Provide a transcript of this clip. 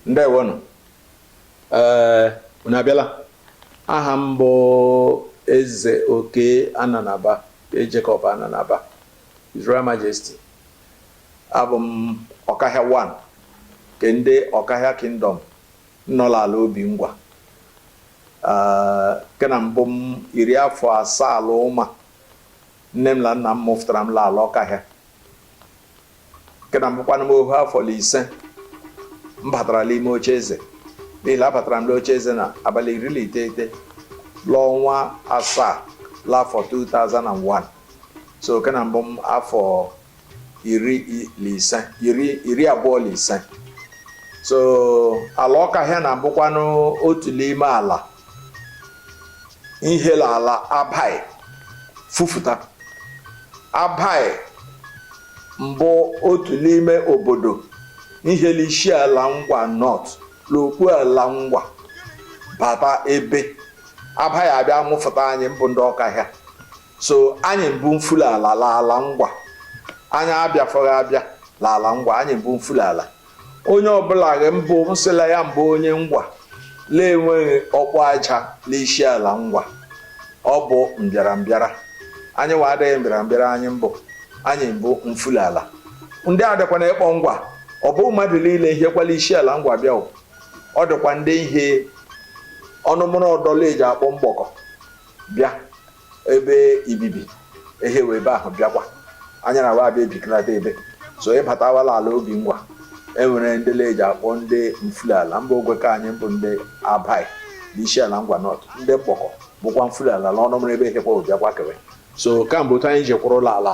ndewonụ ee eh, unu abịala aha m bụ eze okey ananaba jacob ananaba His Royal Majesty abụ m ọkahịa 1 ke nde ọkahịa kingdom nọ la ala obingwa eh, kena mbụ m iri afọ asaa la ụma nne m la nna m mụfụtara m la ala ọkahịa kena mbụkwanụ m ohu afọ la ise m batara l'ime oche eze ihi la abatara m l'oche eze na abalị iri la iteghete l'ọnwa asaa l'afọ 2001 so kena mbụ m afọ iri i- la ise iri iri abụọ la ise so ala ọkahịa na mbụkwanụ otu l'ime ala ihe la ala abayi fufuta abayi mbụ otu l'ime obodo ihe la isiala ngwa north l'okpuala ngwa baba ebe abayi abịa mụfụta anyị mbụ ndị ọkahịa so anyị mbụ mfulu ala la ala ngwa anyị abịafọghị abịa la ala ngwa anyị mbụ mfulu ala onye ọbụla gị mbụ nsị la ya mbụ onye ngwa la-enweghị ọkpụ aja l'isiala ngwa ọ bụ mbịarambịara anyị wa adịghị mbịarambịara anyị mbụ anyị mbụ mfulu ala nde a dịkwana ịkpọ ngwa ọ bụ mmadụ niile ihekwa la isiala ngwa bịa o. ọ dịkwa ndị ihe ọnụmara ọdọ la eji akpọ mgboko bịa ebe ibibio ehe wee ebe ahụ bịakwa anyị na wa bịa ebikọlata ebe so ị batawa la ala obingwa enwere nde l'eji akpọ nde mfulala mba ogwe ka anyị bụ nde abayi la isiala ngwa north nde mgboko bụkwa mfulala la ọnụmara ebe ehekwa ụbịakwa kewe so ka mbụ otu anyị ji kwụrụ la ala